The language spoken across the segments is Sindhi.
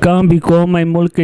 ڪنهن به قوم ۽ ملڪ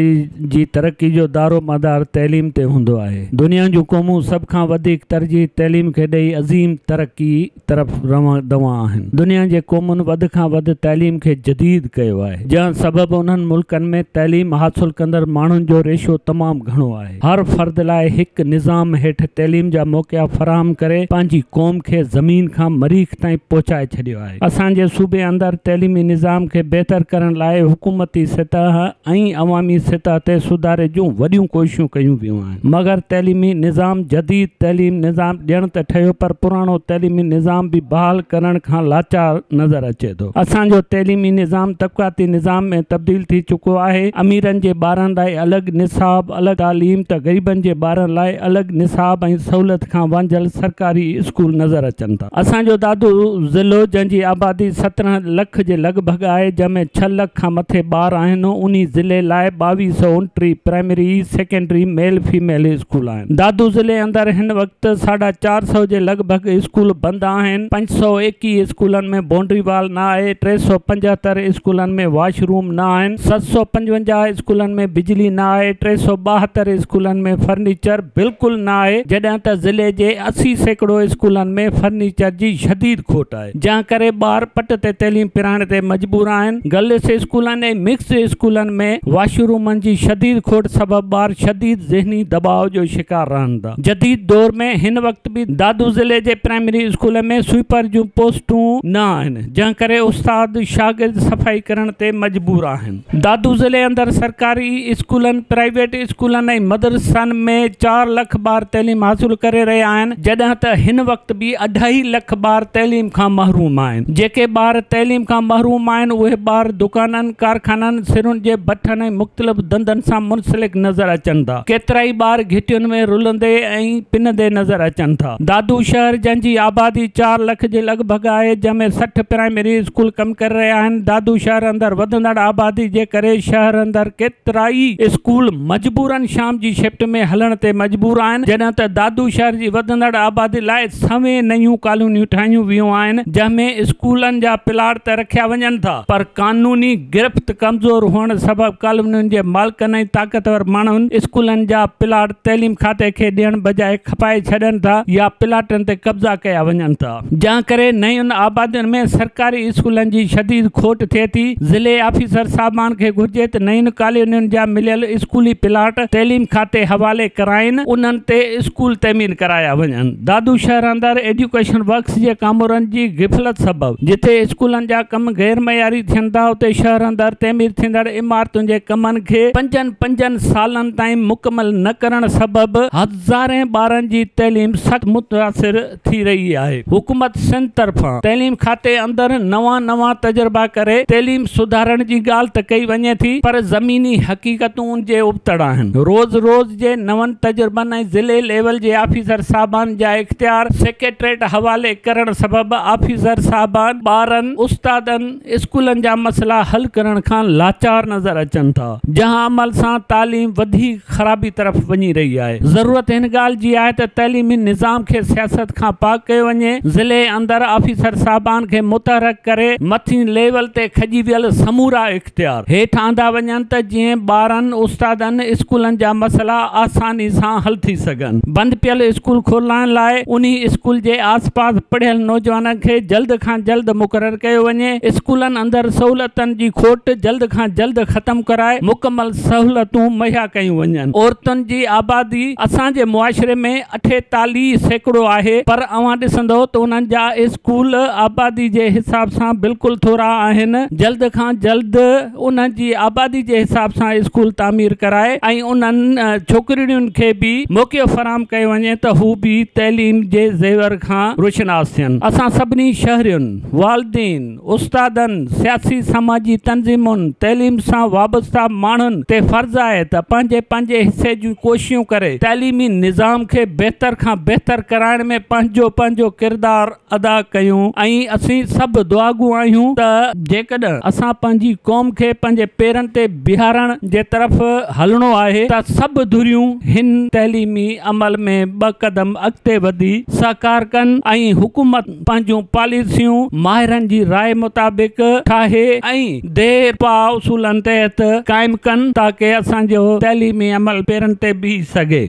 جي ترقي جو دارومدار تعليم تي هوندو آهي. دنيا جون قومون سڀ کان وڌيڪ ترجيح تعليم کي ڏئي عظيم ترقي طرف روان دوان آهن. دنيا جي قومن وڌ کان وڌ تعليم کي جديد ڪيو آهي، جنهن سبب انهن ملڪن ۾ تعليم حاصل ڪندڙ ماڻهن جو ريشو تمام گهڻو آهي. هر فرد لاء هڪ نظام هيٺ تعليم جا موقعا فراهم ڪري پنهنجي قوم کي زمين کان مريخ تائين پهچائي ڇڏيو آهي. اسان جي صوبي اندر تعليمي نظام کي بهتر ڪرڻ لاء حڪومتي سطح ۽ عوامي سطح تي سڌاري جون وڏيون ڪوششون ڪيون ويون آهن مگر تعليمي نظام جديد تعليم نظام ڏيڻ ته ٺهيو پر پراڻو تعليمي نظام به بحال ڪرڻ کان لاچار نظر اچي ٿو اسان جو تعليمي نظام طبقاتي نظام ۾ تبديل ٿي چڪو آهي اميرن جي ٻارن لاء الڳ نصاب الڳ تعليم ته غريبن جي ٻارن لاء الڳ نصاب ۽ سهولت کان وانجهيل سرڪاري اسڪول نظر اچن ٿا. اسان جو دادو ضلعو جنهن جي آبادي سترهن لک جي لڳ ڀڳ آهي جنهن ۾ ڇهه لک کان مٿي ٻار آهن انهي ضلعي لاء ٻاويهه سؤ ٽي primary secondary male female school آهن دادو ضلعي اندر هن وقت ساڍا چار سؤ جي لڳ ڀڳ اسڪول بند آهن پنج سؤ ايڪيهه اسڪولن ۾ بونڊري وال نه آهي ٽي سؤ پنجهتر اسڪولن ۾ واش روم نه آهن ست سؤ پنجونجاهه اسڪولن ۾ بجلي نه آهي ٽي سؤ ٻاهتر اسڪولن ۾ فرنيچر بلڪل نه آهي جڏهن ته ضلعي جي اسي سيڪڙو اسڪولن ۾ فرنيچر جي شديد کوٽ آهي جنهن ڪري ٻار پٽ تي تعليم پرائڻ تي مجبور آهن گرلس اسڪولن ۽ مڪسڊ اسڪولن ۾ واشرومن جي شديد کوٽ سبب ٻار شديد ذهني دٻاء جو شڪار رهن ٿا جديد دور ۾ هن وقت به دادو ضلعي جي پرائمري اسڪول ۾ سوئپر جون پوسٽون نه آهن جنهن ڪري استاد شاگرد صفائي ڪرڻ تي مجبور آهن. دادو ضلعي اندر سرڪاري اسڪولن، پرائيويٽ اسڪولن ۽ مدرسن ۾ چار لک ٻار تعليم حاصل ڪري رهيا آهن جڏهن ته هن وقت به اڍائي لک ٻار تعليم کان محروم آهن جيڪي ٻار تعليم کان محروم آهن اهي ٻار دڪانن ڪارخانن سرن جي بٺن ۽ مختلف ڌنڌن سان منسلڪ نظر اچن ٿا ڪيترائي ٻار گهٽين ۾ رلندي ۽ پنندي نظر اچن ٿا. دادو شهر جنهن جي آبادي چار لک جي لڳ ڀڳ آهي جنهن ۾ سٺ پرائمري اسڪول ڪم ڪري رهيا آهن دادو شهر اندر وڌندڙ آبادي جي ڪري شهر اندر ڪيترائي اسڪول مجبورا شام جي شفٽ ۾ هلڻ تي مجبور آهن جڏهن ته دادو شهر جي وڌندڙ آبادي لاء سوين نيون ڪالونيون ٺاهيون ويون آهن جنهن ۾ اسڪولن جا پلاٽ ته رکيا وڃن ٿا پر قانوني گرفت ڪمزور هئڻ سبب ڪالونين جي مالڪن ۽ طاقتور ماڻهن اسڪولن جا پلاٽ تعليم کاتي کي ڏيڻ بجاء کپائي ڇڏين ٿا يا پلاٽن تي قبضا ڪيا وڃن ٿا جنهن ڪري نين آبادين ۾ سرڪاري اسڪولن جي شديد کوٽ ٿئي ٿي ضلعي آفيسر صاحبان کي گهرجي ته نين ڪالونين جا مليل اسڪولي پلاٽ تعليم کاتي حوالي ڪرائين انهن تي اسڪول تعمير ڪرايا وڃن دادو شهر اندر ايڊيوڪيشن ورڪس جي ڪامورن جي غفلت سبب جتي اسڪولن جا ڪم غير معياري ٿين ٿا اتي شهر اندر تعمير ٿيندڙ عمارتن جي ڪمن کي پنجن پنجن سالن تائين مڪمل نه ڪرڻ سبب هزارين ٻارن جي تعليم سخت متاثر ٿي رهي آهي، حڪومت سنڌ طرفان تعليم کاتي اندر نوان نوان تجربا ڪري تعليم سڌارڻ جي ڳالهه ته ڪئي وڃي ٿي پر زميني حقيقتون ان جي ابتڙ آهن، روز روز جي نون تجربن ۽ ضلعي ليول جي آفيسر صاحبان جا اختيار سيڪريٽريٽ حوالي ڪرڻ سبب آفيسر صاحبان ٻارن، استادن، اسڪولن جا مسئلا حل ڪرڻ کان لاچار نظر اچن ٿا جنهن عمل سان تعليم وڌيڪ خرابي طرف وڃي رهي آهي ضرورت هن ڳالهه جي آهي ته تعليمي نظام کي سياست کان پاڪ ڪيو وڃي ضلعي اندر آفيسر صاحبان کي متحرڪ ڪري مٿين ليول تي کڄي ويل سمورا اختيار هيٺ آندا وڃن ته جئين ٻارن استادن اسڪولن جا مسئلا آساني سان حل ٿي سگهن. ڪن. بند پيل اسڪول کولرائڻ لاء انهي اسڪول جي آس پاس پڙهيل نوجوانن کي جلد کان جلد مقرر ڪيو وڃي، اسڪولن اندر سهولتن جي کوٽ جلد کان جلد ختم ڪرائي مڪمل سهولتون مهيا ڪيون وڃن. عورتن جي آبادي اسان جي معاشري ۾ اٺيتاليهه سيڪڙو آهي پر اوهان ڏسندئو ته انهن جا اسڪول آبادي جي حساب سان بلڪل ٿورا آهن، جلد کان جلد. انهن جي آبادي جي حساب سان اسڪول تعمير ڪرائي ۽ انهن ڇوڪرڙين کي به موقعو فراهم ڪيو وڃي ته هو به تعليم جي زيور کان روشناس ٿين. اسان سڀني شهرين، والدين، استادن، سياسي سماجي تنظيمن، تعليم سان وابسته ماڻهن تي فرض آهي ته پنهنجي پنهنجي حصي جون ڪوششون ڪري تعليمي نظام کي بهتر کان بهتر ڪرائڻ ۾ پنهنجو پنهنجو ڪردار ادا ڪيون ۽ اسين سڀ دعاگو آهيون ته جيڪڏهن اسان پنهنجي قوم کي پنهنجي پيرن تي بيهارڻ جي طرف هلڻو آهي ته سڀ ڌريون هن تعليمي عمل ۾ ٻه قدم اڳتي وڌي سهڪار ڪن ۽ حڪومت پنهنجون پاليسيون ماهرن جي راء مطابق ٺاهي ۽ ديرپا اصولن تحت قائم ڪن تاڪه اسان جو تعليمي عمل پيرن تي بيهي سگهي.